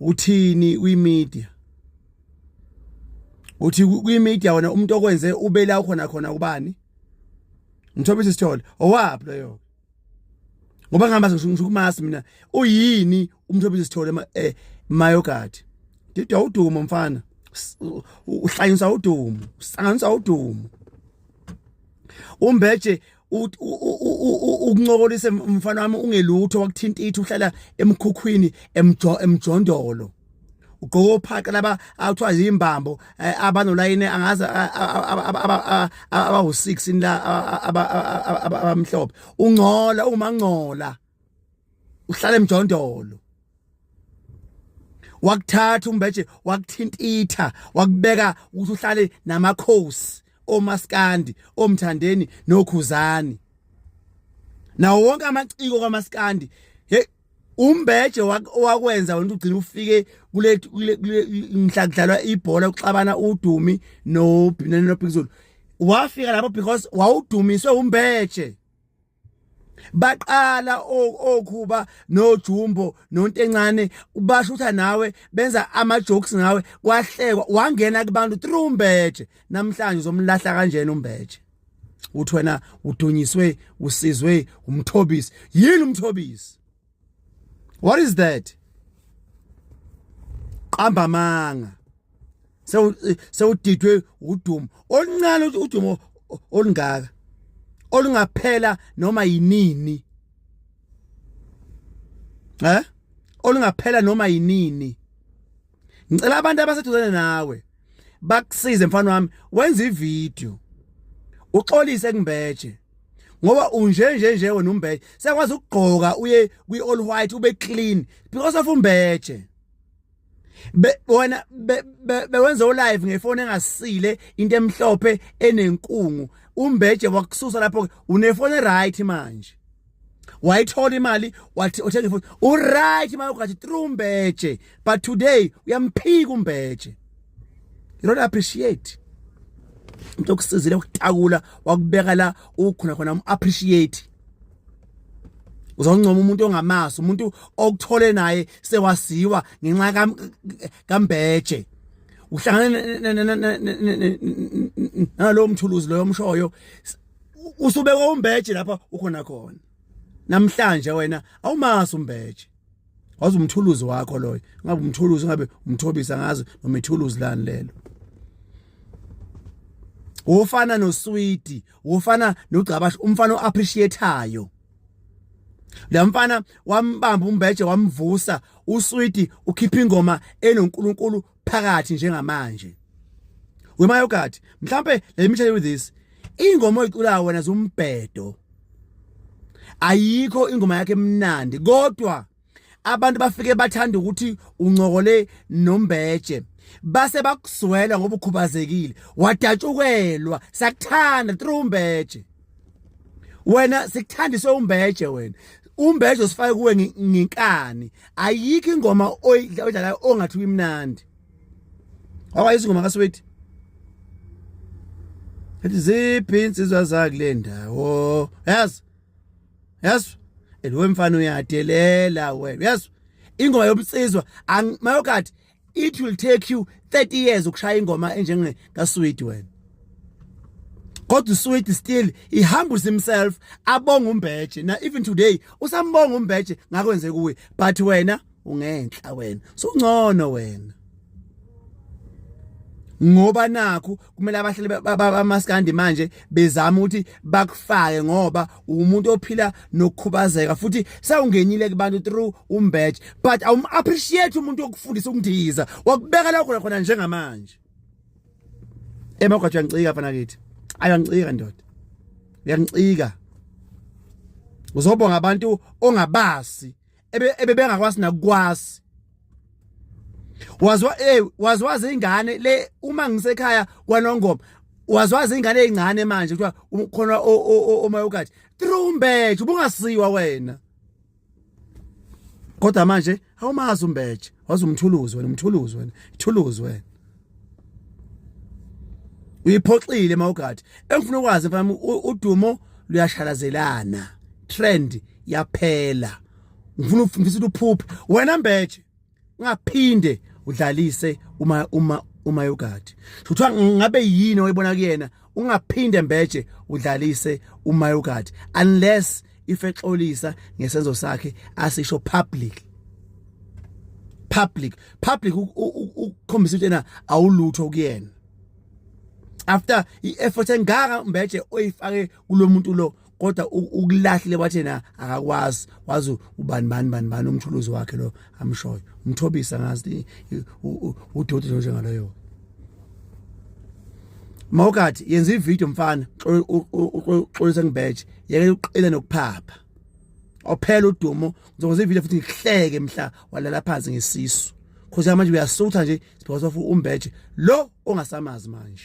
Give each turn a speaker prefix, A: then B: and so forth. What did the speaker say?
A: uthini kwi media uthi kwi media wena umuntu okwenze ubela khona khona ubani ngithobisa isithole owaphi loyo ngoba ngihamba ngisukumasi mina uyini umthobisa isithole eh mayogadi didwa udumo mfana uhlanyisa udumo usanganisa udumo umbeje ukuncokolisa mfana wami ungelutho wakuthinta ithi uhlala emkhukhwini emjo emjondolo ugqoka ophaqa laba awuthiwa yimbambo eh, abanolayini angaze abawu-6 la abamhlophe ungcola ungumangcola uhlala emjondolo wakuthatha umbeje wakuthintitha wakubeka ukuthi uhlale namakhosi omaskandi omthandeni nokhuzani nawo wonke amaciko kwamaskandi hey umbeje wakwenza wena ugcina ufike kule mhla kudlalwa ibhola uxabana udumi no Binene no Bhizulu wafika lapho because wawudumiswe umbeje baqala okhuba nojumbo nontencane ubashutha nawe benza ama jokes ngawe kwahlekwa wangena kubantu through umbeje namhlanje uzomlahla kanjena umbeje uthi wena udunyiswe usizwe umthobisi yini umthobisi what is that qamba manga sewu sewudidwe udumo oluncane udumo olungaka olungaphela noma yinini eh olungaphela noma yinini ngicela abantu abaseduzane nawe bakusize mfana wami wenza ivideo uxolise kumbeje ngoba unje nje nje wena umbeje sekwazi ukugqoka uye kwi all white ube clean because of umbeje be wena bewenza ulive ngefoni engasile into emhlophe enenkungu umbeje wakususa lapho unefoni right manje wayithola imali wathi othenga ifoni uright imali ugathi through mbeje but today uyamphika umbeje you don't appreciate into okusizile ukutakula wakubeka la ukhona khona appreciate uzoncoma umuntu ongamazi umuntu okuthole naye sewasiwa ngenxa kambeje uhlangana nalowo mthuluzi loyo omshoyo usubeka umbeje lapha ukhona khona namhlanje wena awumazi umbeje wazi umthuluzi wakho loyo ngabe umthuluzi ngabe umthobisa ngazi noma ithuluzi lani lelo wofana noswidi wofana nogcabasha umfana oappreciateayo la mfana wambamba umbeje wamvusa uswidi ukhipha ingoma enoNkulunkulu phakathi njengamanje wemayogadi mhlambe let me tell you this ingoma oyiculayo wena zumbhedo ayikho ingoma yakhe emnandi kodwa abantu bafike bathanda ukuthi uncokole nombeje base bakuzwela ngoba ukhubazekile wadatshukelwa sakuthanda through umbeje wena sikuthandise umbeje wena umbeje usifake kuwe nginkani ayikho ingoma oyidlalayo ongathi uyimnandi awayizwa ingoma kaswethi ethi ziphi insizwa zakule ndawo yazi yazi eliwe mfana uyadelela wena yazi ingoma yobunsizwa mayokathi it will take you 30 years ukushaya ingoma enjenge kaSweet wena kodwa uSweet still he humbles himself abonga uMbeje na even today usambonga uMbeje ngakwenze kuwe but wena ungenhla wena so ngcono wena ngoba nakho kumele abahleli bamaskandi manje bezama ukuthi bakufake ngoba umuntu ophila nokukhubazeka futhi sawungenile kubantu through umbetch but awum appreciate umuntu okufundisa ukundiza wakubeka la khona khona njengamanje emagwajo yancika fana kithi ayancika ndoda yancika uzobonga abantu ongabazi ebebengakwazi nakukwazi wazwa eh wazwazi ingane le uma ngisekhaya kwanongoma wazwazi ingane ezincane manje kuthiwa ukhona omayokathi trumbethe ubungasiwa wena kodwa manje awumazi umbeje wazi umthuluzi wena umthuluzi wena ithuluzi wena uyiphoxile mawugadi engifuna ukwazi mfana udumo luyashalazelana trend yaphela ngifuna ngifisa ukuphupha wena mbeje ungaphinde udlalise uma uma uma yogadi kuthiwa ngabe yini oyibona kuyena ungaphinde mbeje udlalise umayogadi unless if exolisa ngesenzo sakhe asisho public public public ukukhombisa ukuthi yena awulutho kuyena after i-effort engaka mbeje oyifake kulo muntu lo kodwa ukulahlile wathi na akakwazi wazi ubani bani bani bani umthuluzi wakhe lo amshoyo umthobisa ngazi udoti nje njengaloyo Mawukathi yenza ivideo mfana uxolisa ngibheje yeke uqile nokuphapha ophela udumo ngizokwenza ivideo futhi ngihleke mhla walala phansi ngesisu khosi yami manje uyasutha nje because of umbeje lo ongasamazi manje